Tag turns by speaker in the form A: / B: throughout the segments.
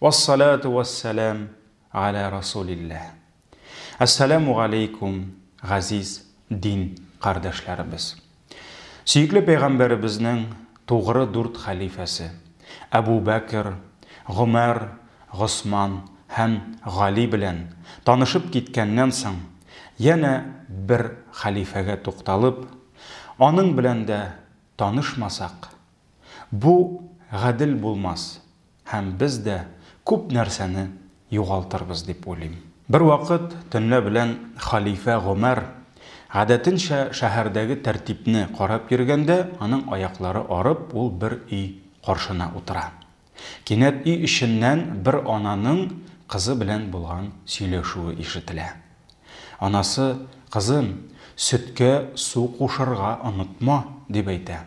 A: Вассалату вассалам галә расулилләһ. Әссәламү галәйкүм, газиз дин кардәшләребез. Сөекле пәйгамбәребезнең тугры дүрт хәлифәсе, Әбу Бәкер, Гомәр, Госман һәм Гали белән танышып киткәннән соң, янә бер хәлифәгә тукталып, аның белән дә танышмасак, бу гадел булмас, һәм без дә күп нәрсәне югалтырбыз дип уйлыйм. Бервакыт төнлә белән хәлифә Гомәр, гадәтенчә, шәһәрдәге тәртипне карап йөргәндә, аның аяклары арып, ул бер өй каршына утыра. Кинәт өй эченнән бер ананың кызы белән булган сөйләшүе ишетелә. Анасы, Кызым, сөткә су кушырга онытма, дип әйтә.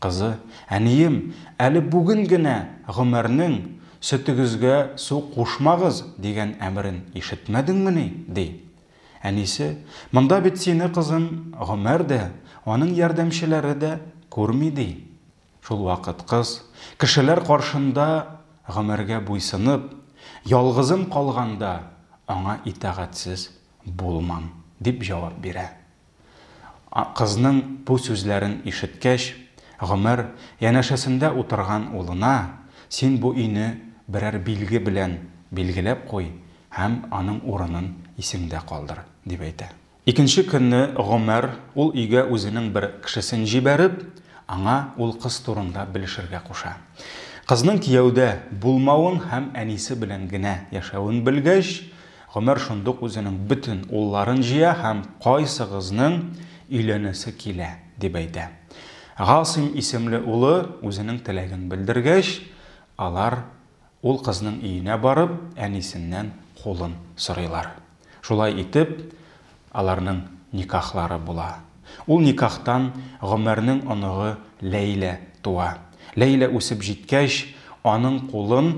A: Кызы, Әнием, әле бүген генә Гомәрнең, Сөтегезгә су кушмагыз, дигән әмерен ишетмәдеңмени? ди. Әнисе, Монда бит сине, кызым, Гомәр дә, аның ярдәмчеләре дә күрми, ди. Шул вакыт кыз, кешеләр каршында Гомәргә буйсынып, ялгызым калганда, аңа итагатьсез булмам, дип җавап бирә. Кызның бу сүзләрен ишеткәч, Гомәр янәшәсендә утырган улына, Син бу өйне берәр билге белән билгеләп куй һәм аның урынын исеңдә калдыр, дип әйтә. Икенче көнне Гомәр ул өйгә үзенең бер кешесен җибәреп, аңа ул кыз турында белешергә куша. Кызның кияүдә булмавын һәм әнисе белән генә яшәвен белгәч, Гомәр шундук үзенең бөтен улларын җыя һәм кайсыгызның өйләнәсе килә, дип әйтә. Гасыйм исемле улы үзенең теләген белдергәч, алар ул кызның өенә барып, әнисеннән кулын сорыйлар. Шулай итеп, аларның никахлары була. Ул никахтан Гомәрнең оныгы Ләйлә туа. Ләйлә үсеп җиткәч, аның кулын.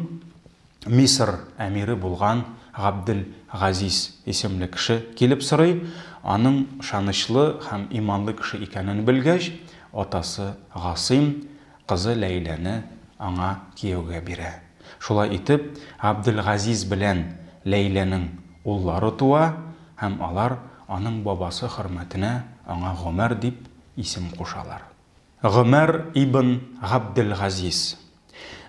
A: Мисыр әмире булган Габдел Газиз исемле кеше килеп сорый, аның шанычлы һәм иманлы кеше икәнен белгәч, атасы Гасыйм кызы Ләйләне аңа кияүгә бирә. Шулай итеп, Габдел Газиз белән Ләйләнең уллары туа һәм алар аның бабасы хөрмәтенә аңа Гомәр дип исем кушалар. Гомәр ибн Габделгазиз.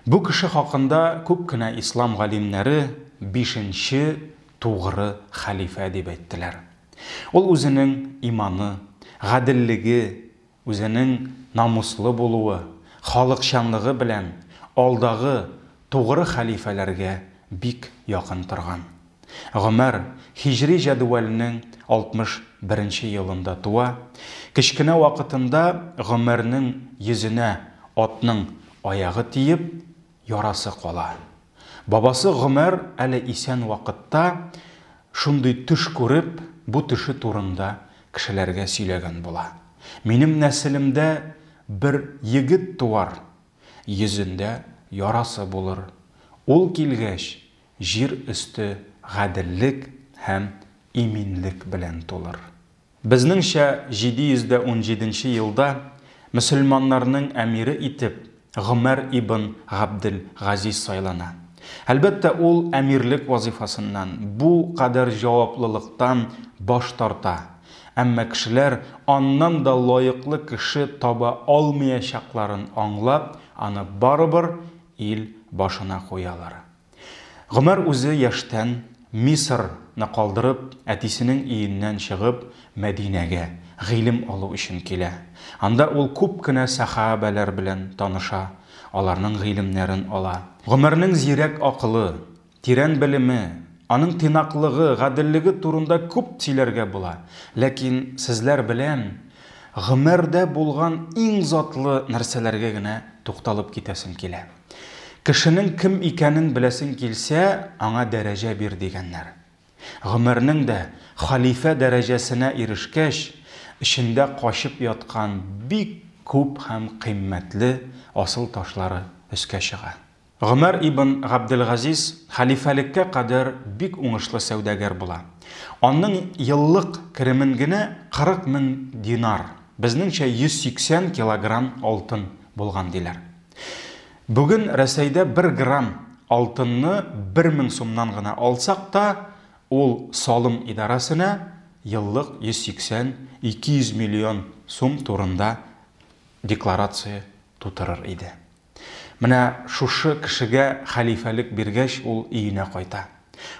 A: Бу кеше хакында күп кенә ислам галимнәре бишенче тугры хәлифә дип әйттеләр. Ул үзенең иманы, гаделлеге, үзенең намуслы булуы, халыкчанлыгы белән алдагы тугры хәлифәләргә бик якын торган. Гомәр һиҗри җәдвәлнең 61 елында туа, кечкенә вакытында Гомәрнең йөзенә атның аягы тиеп, ярасы кала. Бабасы Гомәр әле исән вакытта шундый төш күреп, бу төше турында кешеләргә сөйләгән була. Минем нәселемдә бер егет туар, йөзендә ярасы булыр. Ул килгәч, Җир өсте гаделлек һәм иминлек белән тулыр. Безнеңчә 717 нче елда мөселманнарның әмире итеп Гомәр ибн Габдел Газиз сайлана. Әлбәттә, ул әмирлек вазыйфасыннан, бу кадәр җаваплылыктан баш тарта, әмма кешеләр аннан да лаеклы кеше таба алмыячакларын аңлап, аны барыбер ил башына куялар. Гомәр үзе яшьтән Мисыр ны калдырып, әтисенең өеннән чыгып, Мәдинәгә гыйлем алу өчен килә. Анда ул күп кенә сәха бәләр белән таныша, аларның гыйлемнәрен ала. Гомәрнең зирәк акылы, тирән белеме, аның тыйнаклыгы, гаделлеге турында күп сөйләргә була. Ләкин сезләр белән Гомәрдә булган иң затлы нәрсәләргә генә тукталып китәсем килә. Кешенең кем икәнен беләсең килсә, аңа дәрәҗә бир, дигәннәр. Гомәрнең дә, хәлифә дәрәҗәсенә ирешкәч, эчендә качып яткан бик күп һәм кыйммәтле асыл ташлары өскә чыга. Гомәр ибн Габделгазиз хәлифәлеккә кадәр бик уңышлы сәүдәгәр була. Аның еллык керемен генә 40 мең динар, безнеңчә 180 килограмм алтын булган, диләр. Бүген Рәсәйдә бер грамм алтынны бер мең сумнан гына алсак та, ул салым идарәсенә еллык 180-200 миллион сум турында декларация тутырыр иде. Менә шушы кешегә хәлифәлек биргәч, ул өенә кайта.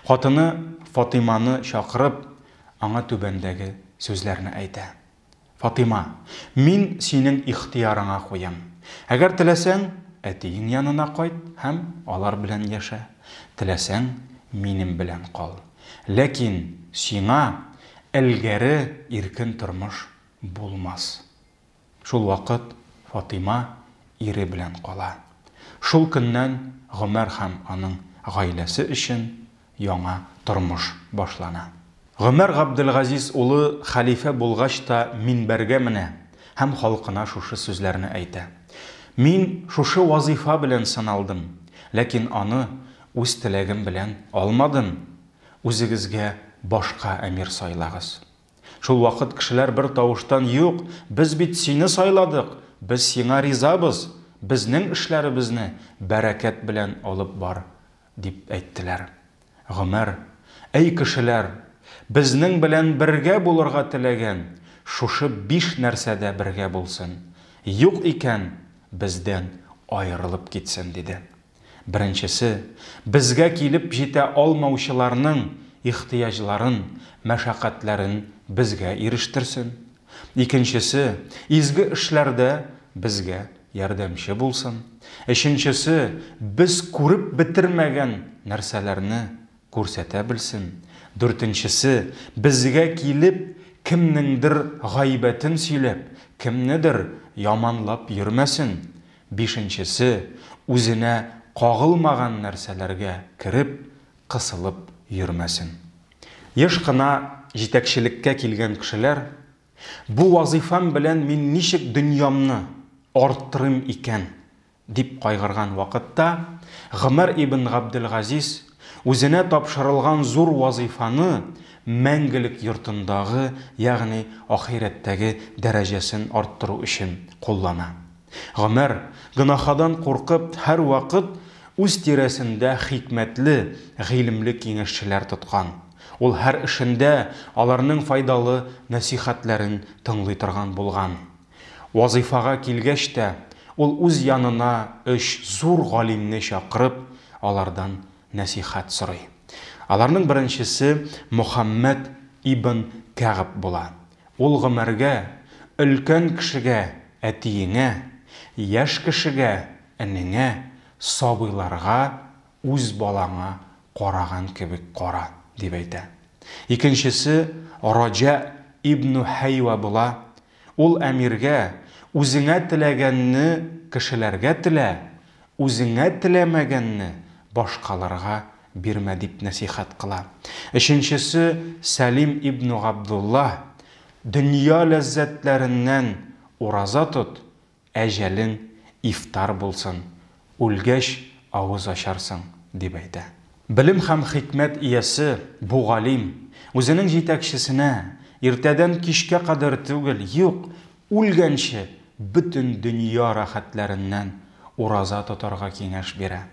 A: Хатыны Фатыйманы чакырып, аңа түбәндәге сүзләрне әйтә. Фатыйма, мин синең ихтыярыңа куям. Әгәр теләсәң, әтиең янына кайт һәм алар белән яшә, теләсәң, минем белән кал. Ләкин сиңа элгәре иркен тормыш булмас. Шул вакыт Фатыйма ире белән кала. Шул көннән Гомәр һәм аның гаиләсе өчен яңа тормыш башлана. Гомәр Габделгазиз улы хәлифә булгач та минбәргә менә һәм халкына шушы сүзләрне әйтә, Мин шушы вазыйфа белән сыналдым, ләкин аны үз теләгем белән алмадым, үзегезгә башка әмир сайлагыз. Шул вакыт кешеләр бер тавыштан, Юк, без бит сине сайладык, без сиңа ризабыз, безнең эшләребезне бәрәкәт белән алып бар! Дип әйттеләр. Гомәр, Әй кешеләр, безнең белән бергә булырга теләгән, шушы биш нәрсәдә бергә булсын, юк икән, бездән аерылып китсен, диде. Беренчесе, безгә килеп җитә алмаучыларның ихтыяҗларын, мәшәкатьләрен безгә ирештерсен. Икенчесе, изге эшләрдә безгә ярдәмче булсын. Өченчесе, без күреп бетермәгән нәрсәләрне күрсәтә белсен. Дүртенчесе, безгә килеп, кемнеңдер гайбәтен сөйләп, кемнедер яманлап йөрмәсен. Бишенчесе, үзенә кагылмаган нәрсәләргә кереп, кысылып йөрмәсен. Еш кына җитәкчелеккә килгән кешеләр, Бу вазыйфам белән мин ничек дөньямны арттырыйм икән? дип кайгырган вакытта, Гомәр ибн Габделгазиз үзенә тапшырылган зур вазыйфаны мәңгелек йортындагы, ягъни ахирәттәге дәрәҗәсен арттыру өчен куллана. Гомәр, гөнаһадан куркып, һәрвакыт үз тирәсендә хикмәтле, гыйлемле киңәшчеләр тоткан. Ул һәр эшендә аларның файдалы нәсыйхәтләрен тыңлый торган булган. Вазыйфага килгәч тә, ул үз янына өч зур галимне чакырып, алардан нәсыйхәт сорый. Аларның беренчесе Мөхәммәд ибн Кәгъб була. Ул гомергә, өлкән кешегә, әтиеңә, яшь кешегә, энеңә, сабыйларга, үз балаңа караган кебек кара, дип әйтә. Икенчесе Раҗа ибну Һәйва була, ул әмиргә, үзеңә теләгәнне кешеләргә телә, үзеңә теләмәгәнне башкаларга Бирмә, дип нәсыйхәт кыла. Өченчесе, Сәлим ибн Габдулла, Дөнья ләззәтләреннән ураза тот, әҗәлең ифтар булсын, үлгәч авыз ачарсың, дип әйтә. Белем һәм хикмәт иясе бу галим, үзенең җитәкчесенә, Иртәдән кичкә кадәр түгел, юк, үлгәнче бөтен дөнья рәхәтләреннән ураза тотарга киңәш бирә.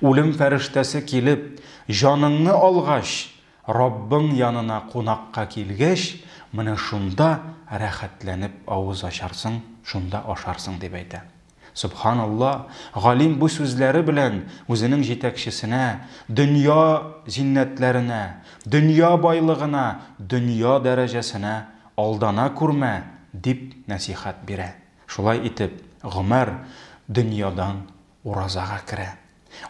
A: Үлем фәрештәсе килеп, җаныңны алгач, Раббың янына кунакка килгәч, менә шунда рәхәтләнеп авыз ачарсың, шунда ашарсың, дип әйтә. Сөбханалла, галим бу сүзләре белән үзенең җитәкчесенә, дөнья зиннәтләренә, дөнья байлыгына, дөнья дәрәҗәсенә алдана күрмә, дип нәсыйхәт бирә. Шулай итеп, Гомәр дөньядан Уразага керә.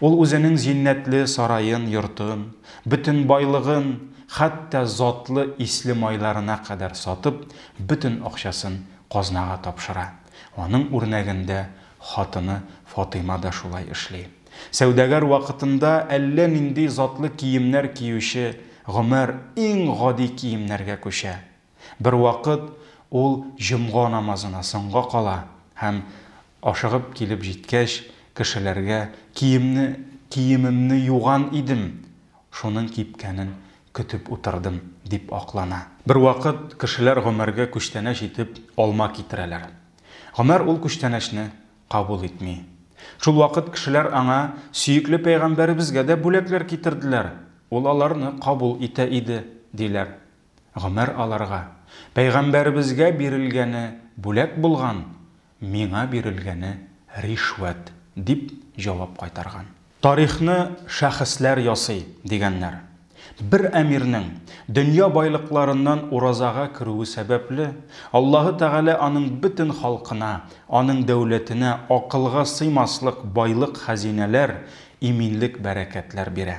A: Ул үзенең зиннәтле сараен, йортын, бөтен байлыгын, хәтта затлы исле майларына кадәр сатып, бөтен акчасын казнага тапшыра. Аның үрнәгендә хатыны Фатыйма да шулай эшли. Сәүдәгәр вакытында әллә нинди затлы киемнәр киюче Гомәр иң гади киемнәргә күчә. Бервакыт ул җомга намазына соңга кала һәм, ашыгып килеп җиткәч, кешеләргә, Киемне, киемемне юган идем, шуның кипкәнен көтеп утырдым, дип аклана. Бервакыт кешеләр Гомәргә күчтәнәч итеп алма китерәләр. Гомәр ул күчтәнәчне кабул итми. Шулвакыт кешеләр аңа, Сөекле пәйгамбәребезгә дә бүләкләр китерделәр, ул аларны кабул итә иде, диләр. Гомер алырга, пәйгамбәребезгә бирелгәне бүләк булган, миңа бирелгәне ришвәт, дип җавап кайтарган. Тарихны шәхесләр ясый, дигәннәр. Бер әмирнең дөнья байлыкларыннан уразага керүе сәбәпле, Аллаһы Тәгалә аның бөтен халкына, аның дәүләтенә акылга сыймаслык байлык-хәзинәләр, иминлек-бәрәкәтләр бирә.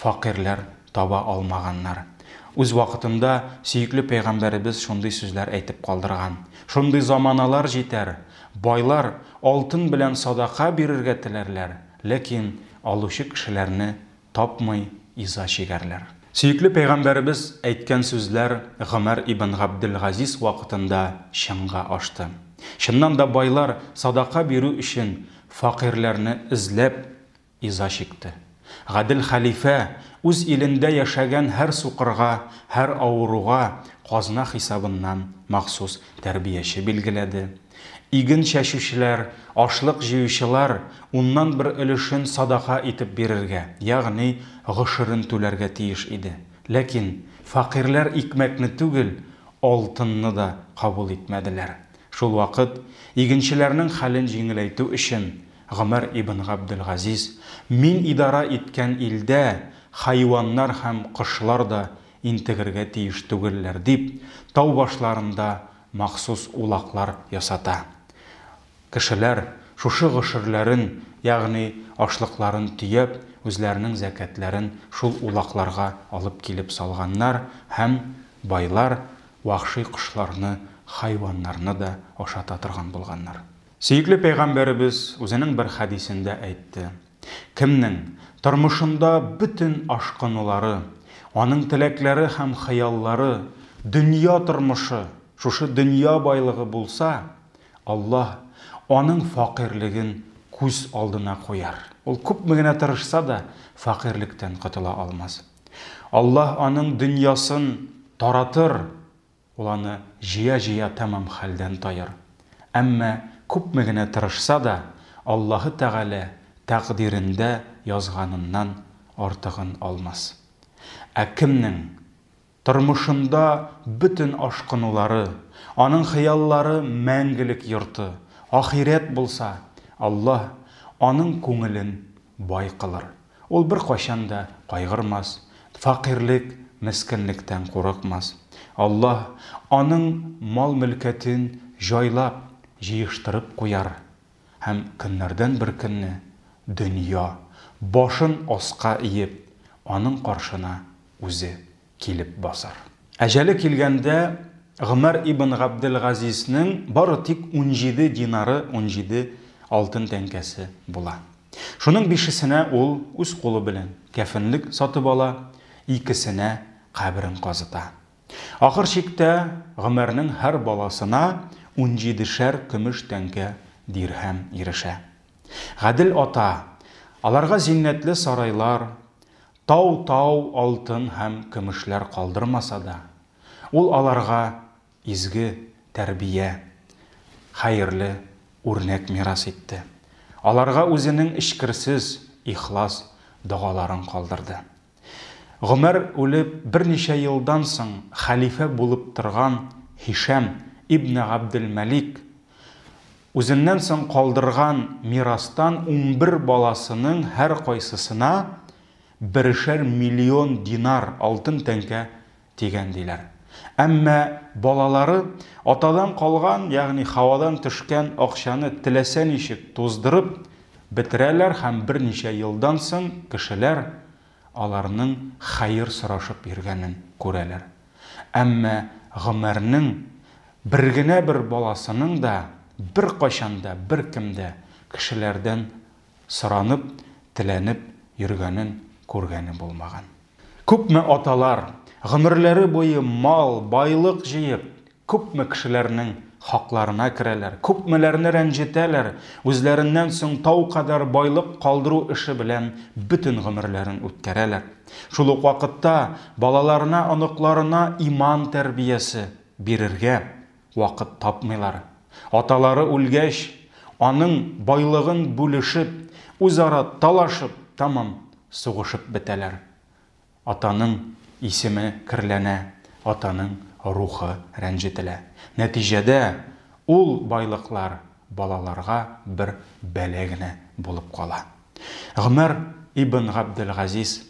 A: Фәкыйрьләр таба алмаганнар. Үз вакытында сөекле пәйгамбәребез шундый сүзләр әйтеп калдырган, Шундый заманалар җитәр, байлар алтын белән садака бирергә теләрләр, ләкин алучы кешеләрне тапмый иза чигәрләр. Сөекле пәйгамбәребез әйткән сүзләр Гомәр ибн Габделгазиз вакытында чынга ашты. Чыннан да байлар садака бирү өчен фәкыйрьләрне эзләп, Иза чикте. Гадел хәлифә үз илендә яшәгән һәр сукырга, һәр авыруга казна хисабыннан махсус тәрбияче билгеләде. Иген чәчүчеләр, ашлык җыючылар уннан бер өлешен садака итеп бирергә, ягъни гошерен түләргә тиеш иде. Ләкин фәкыйрьләр икмәкне түгел, алтынны да кабул итмәделәр. Шулвакыт игенчеләрнең хәлен җиңеләйтү өчен Гомәр ибн Габделгазиз, Мин идарә иткән илдә хайваннар һәм кошлар да интегергә тиеш түгелләр, дип, тау башларында махсус улаклар ясата. Кешеләр, шушы гошерләрен, ягъни ашлыкларын төяп, үзләренең зәкятләрен шул улакларга алып килеп салганнар һәм байлар вәхши кошларны, хайваннарны да ашата торган булганнар. Сөекле Пәйгамбәребез үзенең бер хәдисендә әйтте, Кемнең тормышында бөтен ашкынулары, аның теләкләре һәм хыяллары, дөнья тормышы, шушы дөнья байлыгы булса, Аллаһ аның факыйрьлеген күз алдына куяр. Ул күпме генә тырышса да, факыйрьлектән котыла алмас. Аллаһ аның дөньясын таратыр. Ул аны җыя-җыя тәмам хәлдән таер. Әмма күпме генә тырышса да, Аллаһы Тәгалә тәкъдирендә язганыннан артыгын алмас. Ә кемнең тормышында бөтен ашкынулары, аның хыяллары мәңгелек йорты, ахирәт булса, Аллаһ аның күңелен бай кылыр. Ул беркайчан да кайгырмас, фәкыйрьлек, мескенлектән курыкмас. Аллаһ аның мал-мөлкәтен җайлап, җыештырып куяр һәм көннәрдән бер көнне дөнья, башын аска иеп, аның каршына үзе килеп басар. Әҗәле килгәндә Гомәр ибн Габделгазизнең бары тик унҗиде динары, унҗиде алтын тәңкәсе, була. Шуның бишесенә ул үз кулы белән кәфенлек сатып ала, икесенә каберен казыта. Ахыр чиктә Гомәрнең һәр баласына унҗидешәр көмеш тәңкә, дирһәм, ирешә. Гадел ата аларга зиннәтле сарайлар, Тау-тау алтын һәм көмешләр калдырмаса да, ул аларга изге тәрбия, хәерле үрнәк мирас итте. Аларга үзенең эчкерсез, ихлас догаларын калдырды. Гомәр үлеп берничә елдан соң хәлифә булып торган Һишам ибне Габделмәлик Үзеннән соң калдырган мирастан унбер баласының һәркайсысына берешәр миллион динар, алтын тәңкә, тигән, диләр. Әмма балалары атадан калган, ягъни һавадан төшкән акчаны теләсә ничек туздырып бетерәләр һәм берничә елдан соң кешеләр аларның хәер сорашып йөргәнен күрәләр. Әмма Гомәрнең бер генә бер баласының да беркайчан да беркем дә кешеләрдән соранып, теләнеп йөргәнен күргәне булмаган. Күпме аталар, гомерләре буе мал, байлык җыеп, Күпме кешеләрнең хакларына керәләр, күпмеләрне рәнҗетәләр, үзләреннән соң тау кадәр байлык калдыру эше белән бөтен гомерләрен үткәрәләр. Шул ук вакытта балаларына, оныкларына иман тәрбиясе бирергә вакыт тапмыйлар. Аталары үлгәч, аның байлыгын бүлешеп, үзара талашып, тәмам сугышып бетәләр. Атаның исеме керләнә, атаның рухы рәнҗетелә. Нәтиҗәдә, ул байлыклар балаларга бер бәла генә булып кала. Гомәр ибн Габделгазиз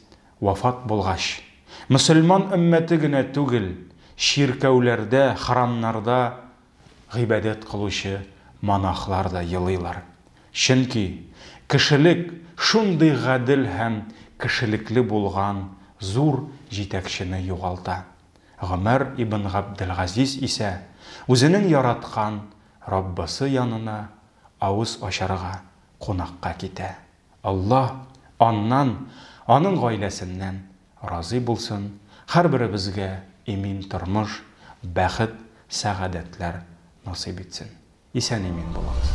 A: вафат булгач, мөселман өммәте генә түгел, чиркәүләрдә, храмнарда Гыйбадәт кылучы монахлар да елыйлар. Чөнки кешелек шундый гадел һәм кешелекле булган зур җитәкчене югалта. Гомәр ибн Габделгазиз исә үзенең яраткан Раббысы янына авыз ачарга кунакка китә. Аллаһ аннан, аның гаиләсеннән Разый булсын хәрберебезгә имин тормыш, бәхет, сәгадәтләр насыйп итсен. Исән-имин булыгыз.